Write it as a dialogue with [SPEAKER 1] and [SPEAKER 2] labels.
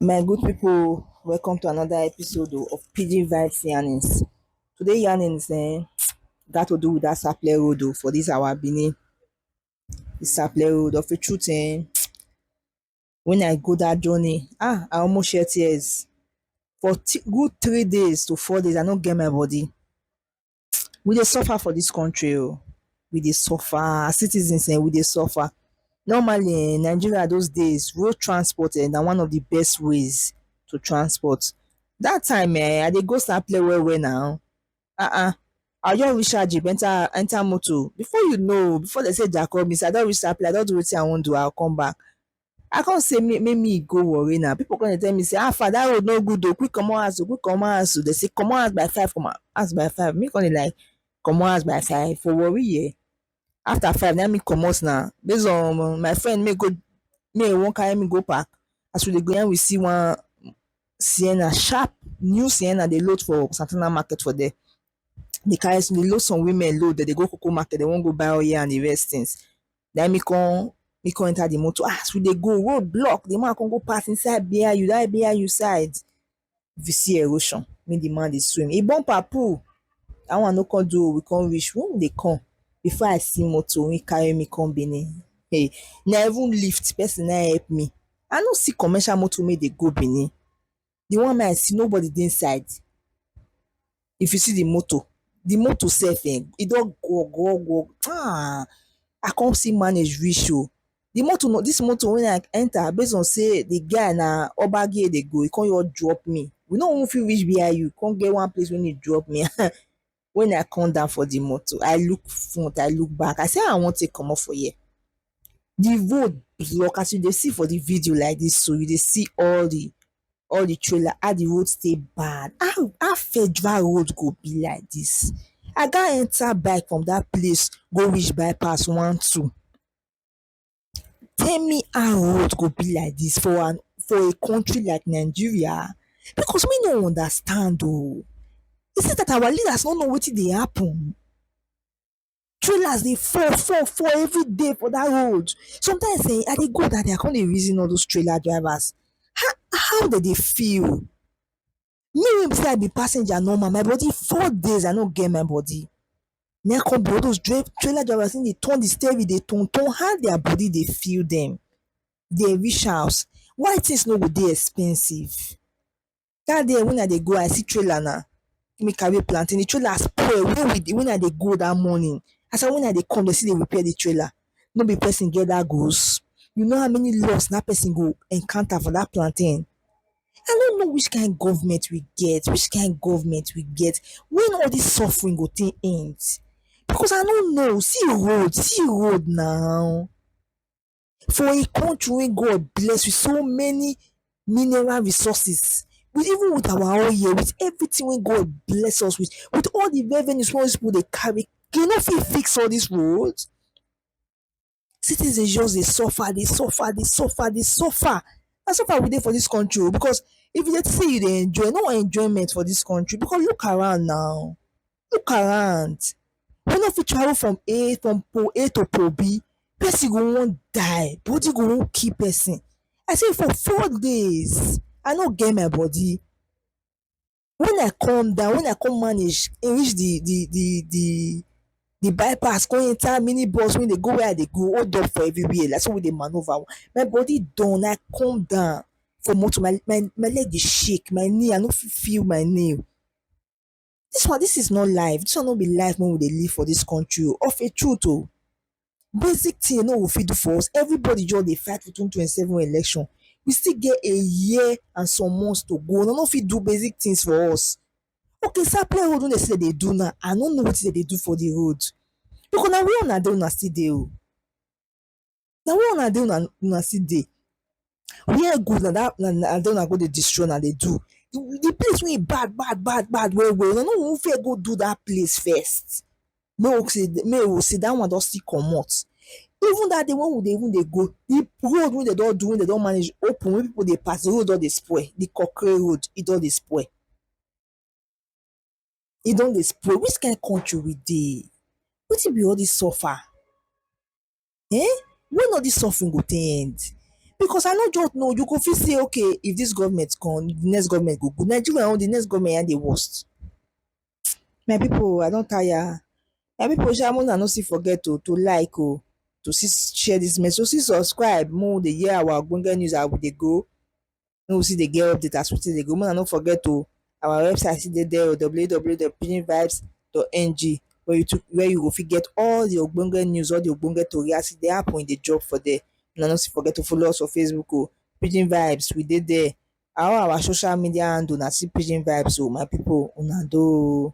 [SPEAKER 1] My good people, welcome to another episode o of Pidgin Vibes Yarnings. Today yarnings um gat to do with that Sapele road o for this our Benin. This Sapele road of a truth um when I go that journey, ah, I almost shed tears. For good three days to four days, I no get my body. We dey suffer for this country o. Oh. We dey suffer. As citizens, eh, we dey suffer. Normally, in eh, Nigeria those days, road transport eh, na one of the best ways to transport. That time, eh, I dey go Sapele well well now. um I go just reach out jeep enter enter motor before you know before dem say Jacob miss I don reach that place I don do wetin I wan do I go come back I come say make me go worry now people come dey tell me say how far that road no good o quick comot house o quick comot house o dem say comot house by five comot house by five me come dey like comot house by five for worry here after five na me comot na base on my friend make e make e wan carry me go park as we dey go na we see one Sienna sharp new Sienna dey load for Santana market for there dey carry dey load some women load dem dey go coco market dey wan go buy oil and the rest things na me come me come enter the motor as we dey go road block the man come go park inside BIU that BIU side If you see erosion, mean the man dey swim. He bumper pull. That one no come do. We come reach. When we dey come, before I see motor, when carry me come Benin. Hey, na even lift person na help me. I no see commercial motor make dey go Benin. The one wey I see, nobody dey inside. If you see di motor, di motor sef um e don gwo gwo gwo um I come still manage reach oh. Di motor na dis motor wey I enter base on sey di guy na gbagi e dey go, e come just drop me. We no even fit reach VIU, e come get one place wey e drop me um. Wen I come down for di motor, I look front, I look back, I say how I wan take comot for here? the road block as you dey see for the video like this so you dey see all the all the trailer how the road stay bad how how federal road go be like this i got enter bike from that place go reach bypass one two tell me how road go be like this for an for a country like nigeria because me no understand o is it that our leaders no know wetin dey happen Trailers dey fall fall fall every day for dat road sometimes um I dey go dat day I come dey reason all those trailer drivers how how dem dey feel me wey be sey I be passenger normal my body four days I no get my body na im come be all those trailer drivers come dey turn de steering dey turn turn how their body dey feel dem dem reach house why things no go dey expensive. dat day wen I dey go I see trailer na make me carry plantain, di trailer spoil wen we dey wen I dey go dat morning as I wen I dey come dey still dey repair di trailer no be person get dat goods? you know how many loss dat person go encounter for dat plantain? I no know which kind government we get which kind government we get wen all dis suffering go take end? because I no know see road see road na. For a country wey God bless with so many mineral resources, with even with our own here, with everything wey God bless us with, with all the revenues wey all these people dey carry, dem no fit fix all these roads? Citizens just dey suffer, dey suffer, dey suffer, dey suffer. Na suffer we dey for this country o because if you dey think say you dey enjoy, no enjoyment for this country because look around now. look around we no fit travel from A from pole A to pole B person go wan die body go wan kill person I say for four days I no get my body when I come down when I come manage reach the the the the the bypass come enter mini bus wey dey go where I dey go hold up for everywhere na so we dey manoeuvre my body done I come down for motor my my leg dey shake my knee I no fit feel my knee Dis one dis is not life, dis one no be life wey we dey live for dis country o of a truth o. Basic thing no go fit do for us, everybody just dey fight for twenty twenty seven election, we still get a year and some months to go, dey no fit do basic things for us. Okay sapele road wey dey say dey dey do now I no know wetin dey dey do for de road because na where una dey una still dey o. na where una dey una una still dey where good na that na na there una go dey destroy una dey do the place wey e bad bad bad bad well well una no go even fear go do that place first make we say make we say that one don still comot even that day wey we dey even dey go the road wey dem don do wey dem don manage open wey people dey pass the road don dey spoil the kontri road e don dey spoil e don dey spoil which kind country we dey wetin be all this suffer um when all this suffering go take end because I no just know you go fit say okay if this government come the next government go good Nigeria own the next government na him dey worst my people I don tire my people sha make una no still forget o to like o to still share this message to still subscribe make we dey hear our ogbonge news as we dey go. make we still dey get update as we take dey go make una no forget oh our website still dey there oh www dot pidgin vibes dot ng where you to where you go fit get all the ogbonge news all the ogbonge tori as e dey happen e dey drop for there una no still forget to follow us for facebook oh pidgin vibes we dey there all our social media handle na still pidgin vibes oh my people una doh oh.